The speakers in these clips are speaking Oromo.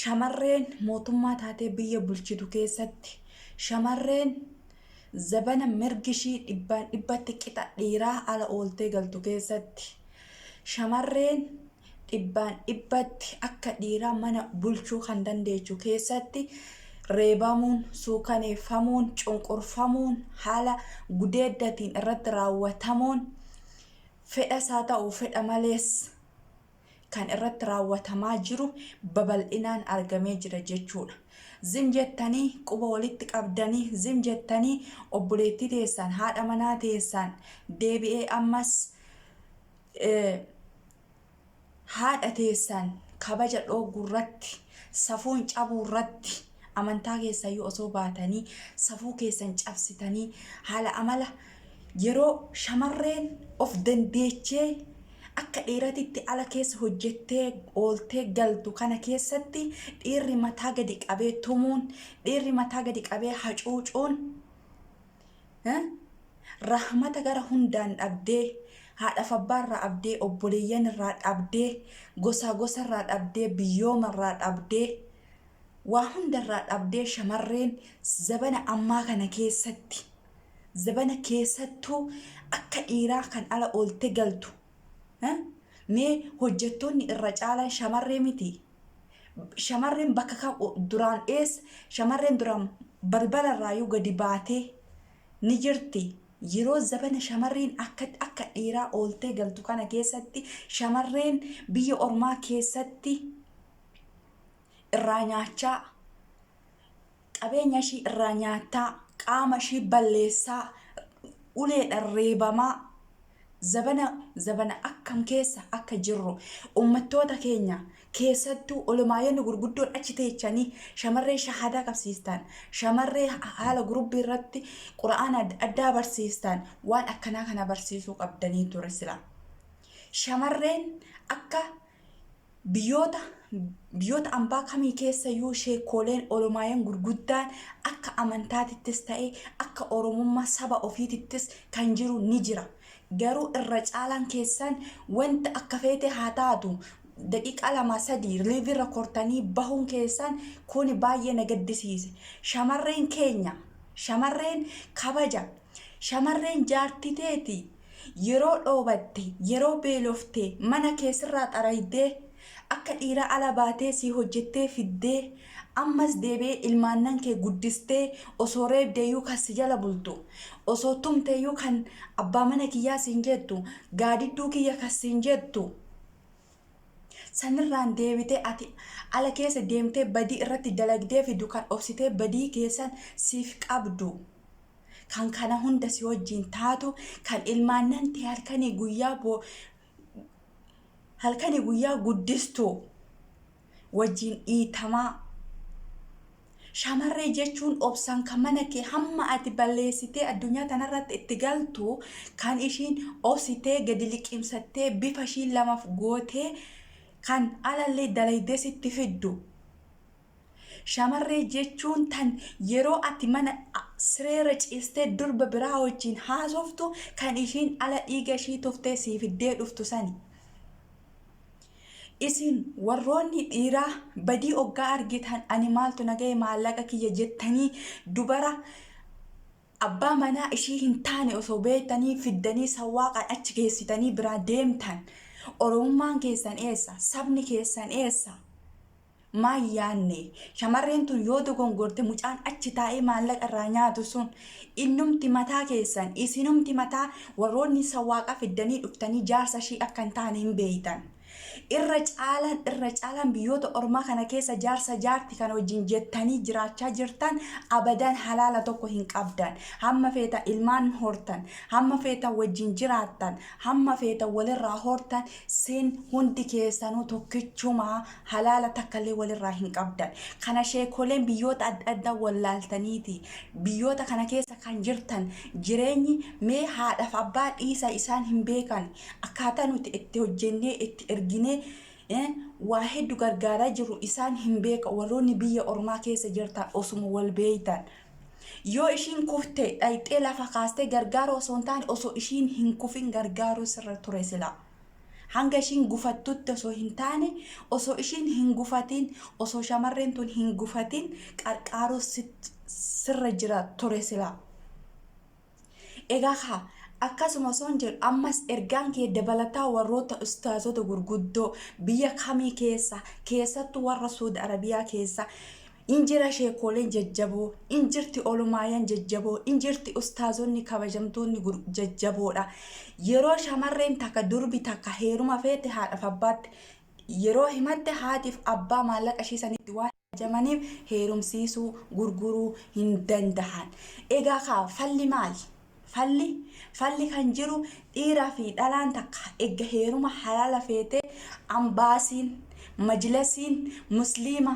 Shamarreen mootummaa taatee biyya bulchitu keessatti shamarreen zabana mirgi ishii dhibbaan dhibbatti qixa dhiiraa ala ooltee galtu keessatti shamarreen dhibbaan dhibbatti akka dhiiraa mana bulchuu kan dandeechu keessatti reebamuun, suukaneeffamuun, cunqurfamuun, haala gudeeddatiin irratti raawwatamuun fedhas haa ta'u fedha malees, kan irratti raawwatamaa jiru babal'inaan argamee jira jechuudha. Zim jettanii quba walitti qabdanii zim jettanii obboleettii teessaan haadha manaa teessaan deebi'ee ammas haadha teessaan kabaja dhooguu irratti safuun cabuu irratti Amantaa keessaayyuu osoo baatanii safuu keessan cabsitanii haala amala yeroo shamarreen of dandeechee akka dhiiratitti ala keessa hojjettee ooltee galtu kana keessatti dhiirri mataa gadi qabee tumuun dhiirri mataa gadi qabee hacuucuun eh, rahmata gara hundaan dhabdee haadhaaf abbaa irraa abdee obboleeyyan irraa dhabdee gosaa gosa irraa dhabdee biyyooma irraa dhabdee Waa hundarraa dhabdee shamarreen zabana ammaa kana keessatti zabana keessattuu akka dhiiraa kan ala oolte galtu mee hojjettoonni irra caalan shamarree miti shamarreen bakka kam duraan ees shamarreen duraan balbala irraayyuu gadi baatee ni jirti yeroo zabana shamarreen akka akka dhiiraa ooltee galtu kana keessatti shamarreen biyya ormaa keessatti irraa nyaachaa qabeenya ishii irraa nyaattaa qaama ishii balleessaa uleedhaan reebamaa zabana zabana akkam keessa akka jirru ummattoota keenya keessattuu olomaayyonni gurguddoon achi teechanii shamarree shahaadaa qabsiistaan shamarree haala gurubbii irratti qura'aana addaa barsiistaan waan akkanaa kana barsiisuu qabdanii ture sila shamarreen akka Biyyoota biyyoota ambaa kamii keessayyuu sheekkooleen Oromaayan gurguddaan akka amantaatittis ta'e akka Oromummaa saba ofiitittis kan jiru ni jira. Garuu irra caalaan keessan wanta akka feete haa taatu daqiiqaa lama sadii live irra kortanii bahuun keessan kuni baay'ee na gaddisiise. Shamarreen keenya shamarreen kabaja shamarreen jaartii teeti Yeroo dhoobatte, yeroo beelofte, mana kee sirraa xaraydee, akka dhiiraa ala baatee sii hojjettee fiddee, ammas deebi'ee ilmaannan kee guddistee osoo reebdeeyyuu kan si jala bultu, osoo tumteeyyuu kan abbaa mana kiyyaa siin jettu, gaadidduu kiyya kan siin jettu, Sanirraan deebitee ati ala keessa deemtee badii irratti dalagdee fiddu kan obsitee badii keessan siif qabdu, kan kana hunda si wajjin taatu, kan ilmaannan tee halkanii guyyaa bo halkanii guyyaa guddistu wajjin dhiitamaa, Shamarree jechuun obsaan kan mana kee hamma ati balleessitee addunyaa tanarratti itti galtu kan ishiin obsitee gadi liqimsattee bifa ishii lamaf gootee kan alallee dalaydee sitti fiddu. Shamarree jechuun tan yeroo ati mana sireerra ciistee durba biraa wajjiin haasoftu kan ishiin ala dhiiga ishii tuftee sii fiddee dhuftu sani. Isin warroonni dhiiraa badii oggaa argitan ani maaltu na gahe maallaqa kiyya jettanii dubara abbaa manaa ishii hin taane osoo beektanii fiddanii sawwaaqaan achi geessitanii biraa deemtan. Oromummaan keessan eessa? Sabni keessan eessa? Maa hin yaanne? Shamarreen tun yoo dogongorte mucaan achi taa'ee maallaqa irraa nyaatu sun innumti mataa keessan isinumti mataa warroonni sawwaaqa fiddanii dhuftanii jaarsa ishii akka hin taane hin beeytan. Irra caalaan irra caalaan biyyoota ormaa kana keessa jaarsa jaarti kana wajjin jettanii jiraachaa jirtan abadan halaala tokko hin qabdan. Hamma feetan ilmaan hortan, hamma feetan wajjin jiraattan, hamma feetan walirraa hortan sin hundi keessanuu tokkichuma halaala takkallee walirraa hin qabdan. Kana sheekoleen biyyoota adda addaa wallaaltaniiti. Biyyoota kana keessa kan jirtan jireenyi mee haadhaaf abbaa dhiisa isaan hin beekan. Akkaataa nuti itti hojjennee itti erginee eh, waa heddu gargaaraa jiru isaan hin beeka warroonni biyya ormaa keessa jirtan osuma wal beeytan. Yoo ishiin kufte dhayxee lafa kaastee gargaaruu osoo hin taane osoo ishiin hin kufin gargaaruu sirra ture silaa. Hanga ishiin gufattutti osoo hin taane osoo ishiin hin gufatiin osoo shamarreen tun hin gufatiin qarqaaruu sirra jira ture silaa. Egaa kaa akkasuma osoon jedhu ammas ergaan kee dabalataa warroota ustaazota gurguddoo biyya kamii keessa keessattu warra Suud Arabiyaa keessa In jira sheekkooleen jajjaboo, in jirti olomaayan jajjaboo, in jirti ustaazonni kabajamtoonni gur- jajjaboodha. Yeroo shamarreen takka durbi takka heeruma feete haadhaaf abbaatti yeroo himatte haatiif abbaa maallaqa ishii sanitti waan ajamaniif heerumsiisuu, gurguruu hin dandahan. Egaa kaa falli maali? Falli, Falli kan jiru dhiiraa fi dhalaan takka egga heeruma halaala feetee Ambaasiin, Majlasiin, Musliima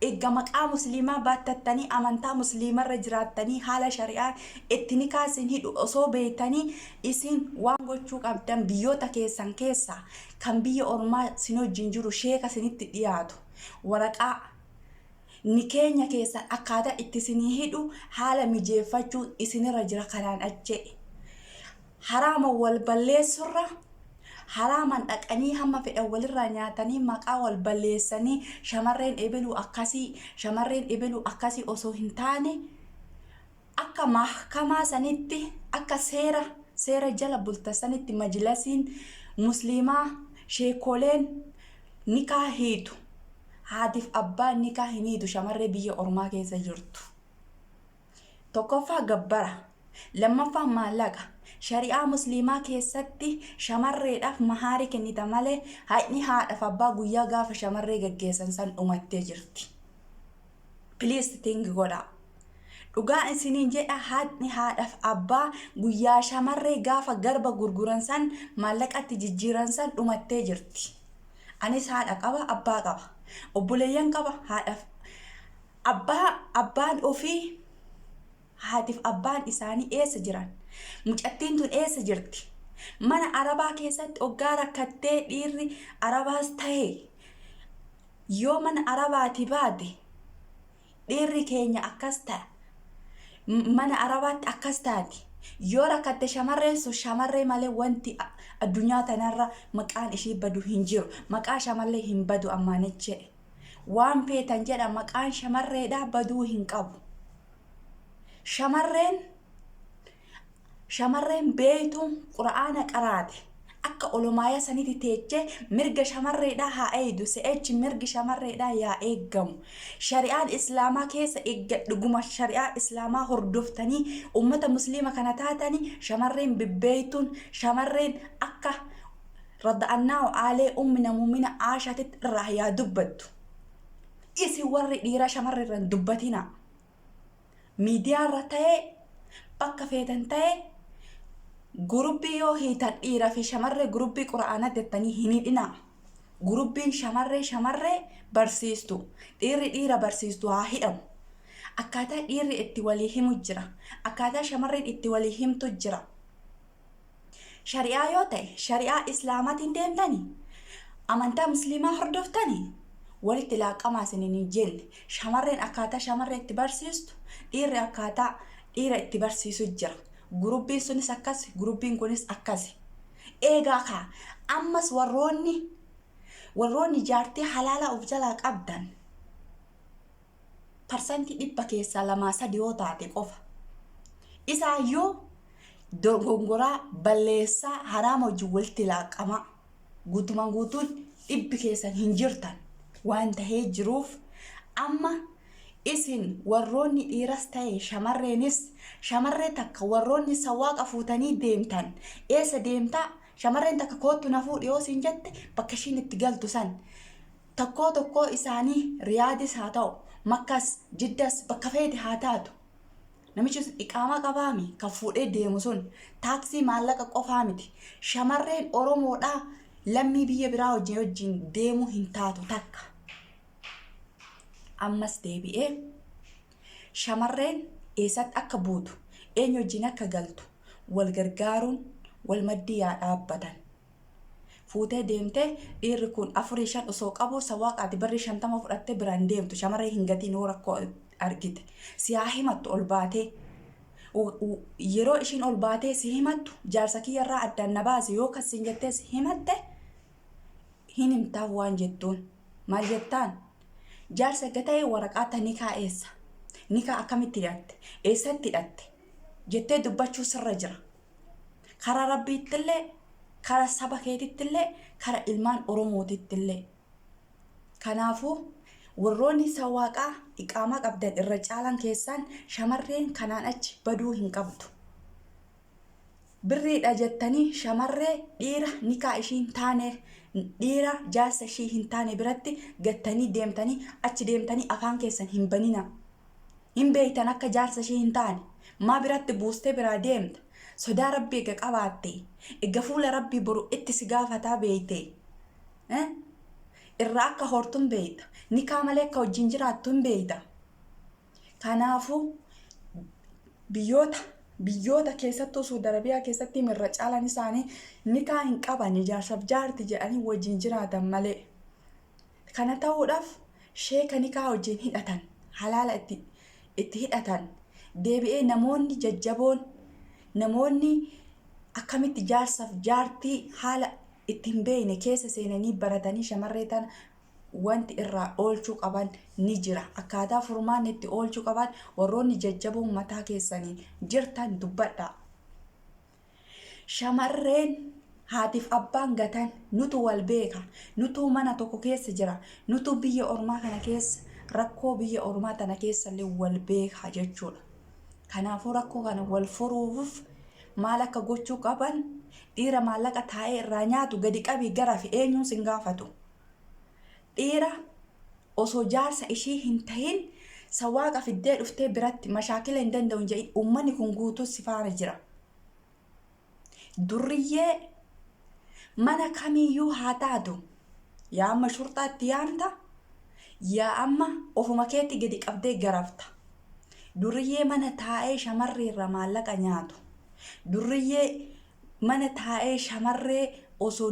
egga maqaa Musliimaa baattattanii amantaa Musliimarra jiraattanii haala shari'aan itti nikaa isin hidhu osoo beeytanii isin waan gochuu qabdan biyyoota keessan keessaa kan biyya ormaa isin wajjin jiru sheeka isinitti dhiyaatu waraqaa Ni keenya keessaa akkaataa itti isinii hidhu haala mijeeffachuun isinirra jira kanaan ache'e haraama wal balleessurra haraaman dhaqanii hamma fedhan walirraa nyaatanii maqaa wal balleessanii shamarreen ebeluu akkasii shamarreen ebeluu akkasii osoo hin taane Akka mahkamaa sanitti, akka seera seera jala bulta sanitti majlasiin musliimaa, sheekoleen, nikaa hiitu. Haatiif abbaan nikaa hin hiitu shamarree biyya ormaa keessa jirtu. Tokkoffaa gabbara, lammaffaa maallaqa. Shari'aa musliimaa keessatti shamarreedhaaf mahaari kennita malee haqni haadhaaf abbaa guyyaa gaafa shamarree gaggeessan san dhumattee jirti. please think godhaa. Dhugaa isiniin jedha haadni haadhaaf abbaa guyyaa shamarree gaafa garba gurguran san maallaqatti jijjiiran san dhumattee jirti. Anis haadha qaba abbaa qaba. Obboleeyyan qaba haadhaaf abbaa abbaan ofii haatiif abbaan isaanii eessa jiran? Mucattiin tun eessa jirti? Mana arabaa keessatti oggaa rakkattee dhiirri arabaas ta'e Yoo mana Arabaatii baate dhiirri keenya akkas ta'a. Mana Arabaatti akkas taati. Yoo rakkatte shamarreen sun shamarree malee wanti addunyaa tanarra maqaan ishii badu hin jiru. Maqaa shamallee hin badu ammaanech jedhe. Waan feetan jedha maqaan shamarreedhaa baduu hin qabu. Shamarreen shamarreen beeytuun qura'aana qaraate akka olomaaya saniti teechee mirga shamarreedhaa haa eeydu se'echi mirgi shamarreedhaa yaa eeggamu shari'aan islaamaa keessa eegga dhuguma shari'aa islaamaa hordoftanii ummata musliima kana taatanii shamarreen bibbeeytuun shamarreen akka rada'annaahu aalee ummina muumina aashaatitti irraa yaa dubbattu isin warri dhiiraa shamarri irraan dubbatinaa miidiyaa irra ta'ee bakka feetan ta'ee gurubbii yoo hiitan dhiira fi shamarree gurubbii qura'aana jettanii hin hidhina gurubbiin shamarree shamarree barsiistu dhiirri dhiira barsiistu haa hidhamu akkaataa dhiirri itti walii himu jira akkaataa shamarreen itti walii himtu jira Shari'aa yoo ta'e shari'aa Islaamaatiin deemtani? Amantaa Musliimaa hordoftani? Walitti laaqqamaa isinin hin jenne. Shamarreen akkaataa shamarree itti barsiistu, dhiirri akkaataa dhiira itti barsiisu jira. Gurubbiin sunis akkas, gurubbiin kunis akkas. Eegaa kaa ammas warroonni warroonni jaartii halaalaa of jalaa qabdan parsantii dhibba keessaa lamaa sadi yoo taate qofa isaayyuu dogongoraa balleessaa haraama wajjin walitti laaqqamaa guutumaan guutuun dhibbi keessan hin jirtan waan tahee jiruuf amma isin warroonni dhiiras ta'e shamarreenis shamarree takka warroonni sawaaqa fuutanii deemtan eessa deemtaa shamarreen takka koottu na fuudhi yoo siin jette bakka ishiin itti galtu san Tokkoo tokkoo isaanii Riyaadis haa ta'u, Makkas, Jiddas bakka feete haa taatu namichi sun iqaamaa qabaami kan fuudhee deemu sun taaksii maallaqa qofaa miti. Shamarreen Oromoodhaa lammii biyya biraa wajjin wajjin deemuu hin taatu takka. Ammas deebi'ee shamarreen eessatti akka buutu eenyu wajjin akka galtu wal gargaaruun wal maddii yaa dhaabbatan. fuutee deemte dhiirri kun afurii shan osoo qabuu sa waaqa ati barri shantama fudhattee bira hin deemtu shamarree hin gatiin yoo rakkoo argite si haa himattu ol baatee yeroo ishiin ol baatee si himattu jaarsa kiyyarraa addaan na baase yoo kan siin jettee si himatte hin himtaa waan jettuun maal jettaan jaarsa erga ta'ee waraqaa ta nikaa eessa nikaa akkamitti hidhatte eessatti hidhatte jettee dubbachuu sirra jira kara rabbiittillee kara saba keetittillee kara ilmaan oromootittillee kanaafuu warroonni isa waaqaa iqaamaa qabdan irra caalaan keessaan shamarreen kanaan achi baduu hin qabdu birriidha jettanii shamarree dhiira nikaa ishii hin taane dhiira jaarsa ishii hin taane biratti gattanii deemtanii achi deemtanii afaan keessan hin banina hin beeytan akka jaarsa ishii hin taane maa biratti buustee biraa deemta sodaa rabbi ega qabaatte ega fuula rabbii boru itti si gaafataa beeyte irraa akka hortu hin beeyta nikaa malee akka wajjin jiraattu hin beeyta kanaafuu biyyoota biyyoota keessattuu Suudi Arabiyaa keessatti irra caalan isaanii nikaa hin qaban jaarsaaf jaarti jedhanii wajjin jiraatan malee. Kana ta'uudhaaf sheeka nikaha wajjiin hidhatan, halaala itti itti hidhatan, deebi'ee namoonni jajjaboon, namoonni akkamitti jaarsaf jaartii haala itti hin beeyne keessa seenanii baratanii shamarree tana wanti irraa oolchuu qaban ni jira. Akkaataa furmaanni itti oolchuu qaban warroonni jajjaboon mataa keessaniin jirtan dubbadhaa. Shamarreen haatiif abbaan gatan nutu wal beeka, nutu mana tokko keessa jira, nutu biyya ormaa kana keessa rakkoo biyya ormaa tana keessallee wal beeka jechuudha. Kanaafuu rakkoo kana wal furuuf maal akka gochuu qaban dhiira maallaqa taa'ee irraa nyaatu gadi qabii garafi eenyuun sin gaafatu. Dhiira osoo jaarsa ishii hin tahin sawaaqa fiddee dhuftee biratti mashaakila hin danda'u hin jedhin uummanni kun guutuu si faana jira durriyyee mana kamiiyyuu haa taatu yaa amma shurxaa itti yaamta yaa amma ofuma keetti gadi qabdee garafta durriyyee mana taa'ee shamarree irraa maallaqa nyaatu durriyyee mana taa'ee shamarree osoo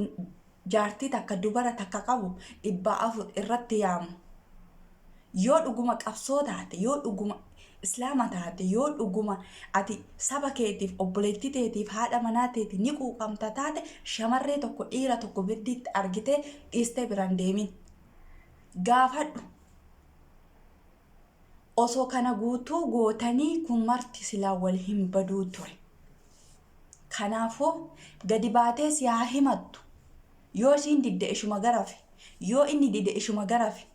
jaartii takka dubara takka qabu dhibbaa afur irratti yaamu yoo dhuguma qabsoo taate yoo dhuguma islaama taate yoo dhuguma ati saba keetiif obboleettii teetiif haadha manaa teeti ni quuqamta taate shamarree tokko dhiira tokko birdiitti argitee dhiistee biran deemin gaafadhu Osoo kana guutuu gootanii kun marti silaa wal hin baduu ture. Kanaafuu gadi baatee si haa himattu. Yoo ishiin didde ishuma garafi. Yoo inni dide ishuma garafi.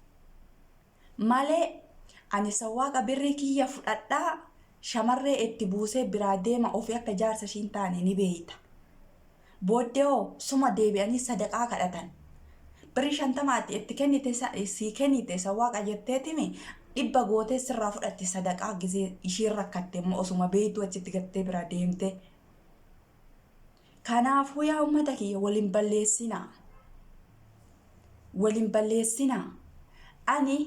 Malee ani sawwaaqa birrii kiyya fudhadhaa shamarree itti buusee biraa deema ofii akka jaarsa ishii hin taane ni beeyta. Booddee hoo suma deebi'anii sadaqaa kadhatan. Birrii shantama ati itti kennite sa- sii kennite sawwaaqa jetteetimi dhibba gootee sirraa fudhatti sadaqaa gisee ishiin rakkatte immoo osuma beektuu achitti gattee biraa deemte. Kanaafuu yaa uummata kiyya wal hin balleessinaa. Wal hin balleessinaa. Ani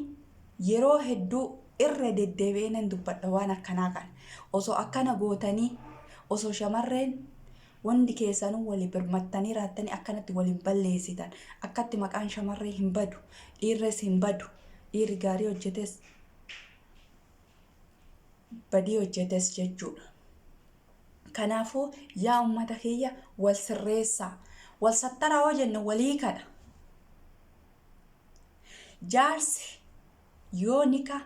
yeroo hedduu irra deddeebi'ee nan dubbadha waan akkanaa kana. Osoo akkana gootanii osoo shamarreen Wondi keessanuu woli birmattanii raattanii akkanatti wol hin balleessitan. Akkatti maqaan shamarree hin badu, dhiirres hin badu, dhiirri gaarii hojjetes badii hojjetes jechuudha. Kanaafuu yaa ummata kiyya wol sirreessaa. Wol sattaraa hoo jenne wol hiikadha. Jaarsi Yoo nika,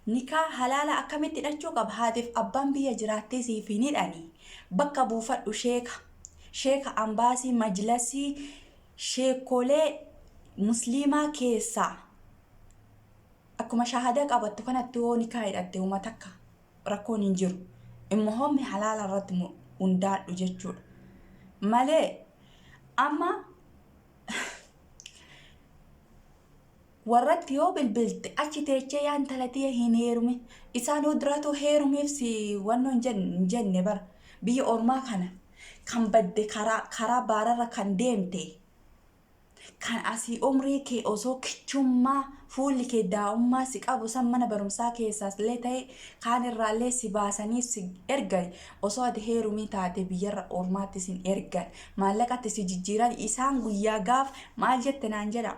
nikaa, halaala akkamitti hidhachuu qaba? Haatiif abbaan biyya jiraattee siif hin hidhani. Bakka buufadhu sheeka. Sheeka ambaasii, majlasii, sheekkoolee musliimaa keessaa akkuma shaahada qabattu kanatti yoo nikaa hidhatte homa takka rakkoon hin jiru. Immohommi halaala irratti hundaadhu jechuudha. Malee amma Warratti yoo bilbilte achi teechee yaa intala tiya hin heerumin isaanuu duratuu heerumiif si wannoo hin jen- hin jenne bar biyya ormaa kana kan badde karaa karaa baararra kan deemte kan asii umrii kee osoo kichummaa fuulli kee daa'ummaa si qabu san mana barumsaa keessaas illee ta'e kaan irraa illee si baasanii si ergan osoo ati heerumii taate biyyarra ormaatti sin ergan maallaqatti si jijjiiran isaan guyyaa gaaf maal jette naan jedha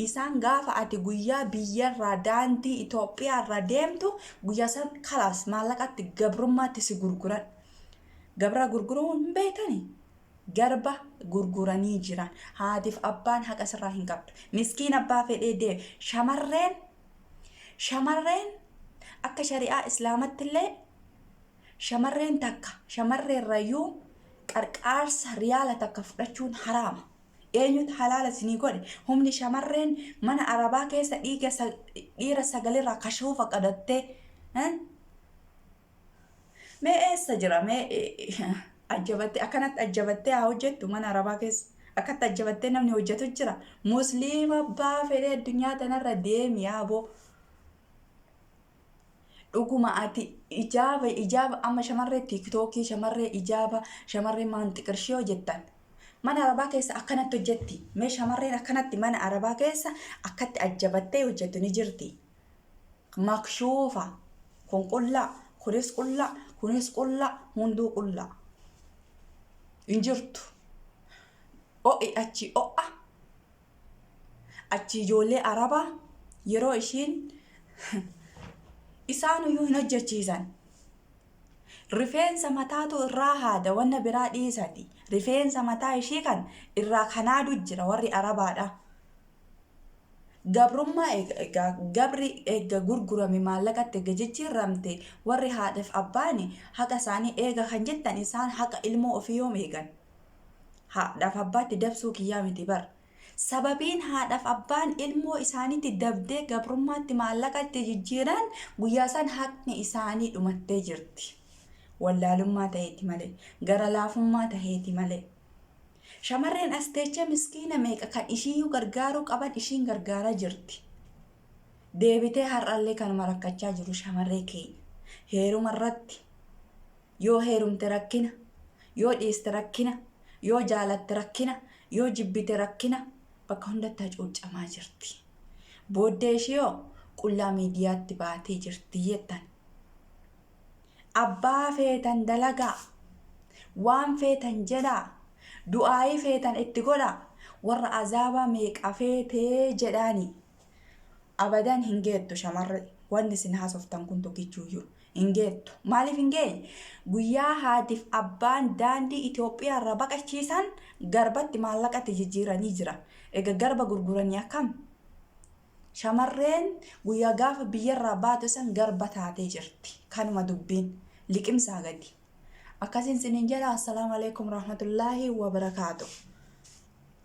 Isaan gaafa ati guyyaa biyyarraa daandii Itoophiyaarra deemtu guyyaa san kalaas maallaqatti gabrummaatti si gurguran. Gabra gurguruu hin beektani? Garba gurguranii jiran. Haatiif abbaan haqa sirraa hin qabdu. Miskiin abbaa fedhee deeme. Shamarreen shamarreen akka shari'aa islaamattillee shamarreen takka shamarreerrayyuu qarqaarsa riyaala takka fudhachuun haraama. Eenyutu halaala isinii godhe? Humni shamarreen mana arabaa keessa dhiiga sa- dhiira sagalirraa kashoofa qadattee eh? mee eessa jira mee eh, ajjabattee akkanatti ajjabattee haa hojjettu mana arabaa keessa akkatti ajjabattee namni hojjetu jira musliima abbaa fedhee addunyaa tanarra deemi yaaboo Dhuguma ati ijaaba ijaaba amma shamarree tiiktookii shamarree ijaaba shamarree maanxiqirshii hojjettan. Mana arabaa keessa akkanatti hojjetti. Mee shamarreen akkanatti mana arabaa keessa akkatti ajjabattee hojjettu ni jirti. Makshuufa kun qullaa kunis qullaa kunis qullaa hunduu qullaa. Hin jirtu. O'i achi o'a. Achii ijoollee Arabaa yeroo ishiin isaanuyyuu hin hojjechiisan. Rifeensa mataatu irraa haada wanna biraa dhiisati. Rifeensa mataa ishii kan irraa kan haadu jira warri Arabaadha. Gabrummaa eega egaa gabri eega gurgurame maallaqatti eega jijjiirramte warri haadhaaf abbaani haqa isaanii eega kan jettan isaan haqa ilmoo ofii yoom eegan? Haadhaaf abbaatti dabsuu kiyyaa miti bar. Sababiin haadhaaf abbaan ilmoo isaaniitti dabdee gabrummaatti maallaqa itti jijjiiran guyyaa san haqni isaanii dhumattee jirti. Wallaalummaa ta'eeti malee, gara laafummaa ta'eeti malee. Shamarreen as teechee miskiina meeqa kan ishiiyyuu gargaaruu qaban ishiin gargaaraa jirti. Deebitee har'allee kanuma rakkachaa jiru shamarree keenya. Heeruma irratti Yoo heerumte rakkina, yoo dhiiste rakkina, yoo jaalatte rakkina, yoo jibbite rakkina, bakka hundatti hacuuccamaa jirti. Booddee ishiihoo qullaa miidiyaatti baatee jirti jettan. Abbaa feetan dalagaa, waan feetan jedhaa, du'aayii feetan itti godhaa, warra azaabaa meeqa feetee jedhaanii. Abadan hin geettu shamarri wanni isin haasoftan kun tokkichuuyyuu hin geettu. Maaliif hin geenye? Guyyaa haatiif abbaan daandii Itoophiyaa irraa baqachiisan garbatti maallaqatti jijjiiranii jira. Ega garba gurguranii akkam? Shamarreen guyyaa gaafa biyyarraa baatu san garba taatee jirti. Kanuma dubbiin liqimsaa gadi. Akkasiin sinin jedha assalaamu alaikum rahmatullaahi wa barakaatu.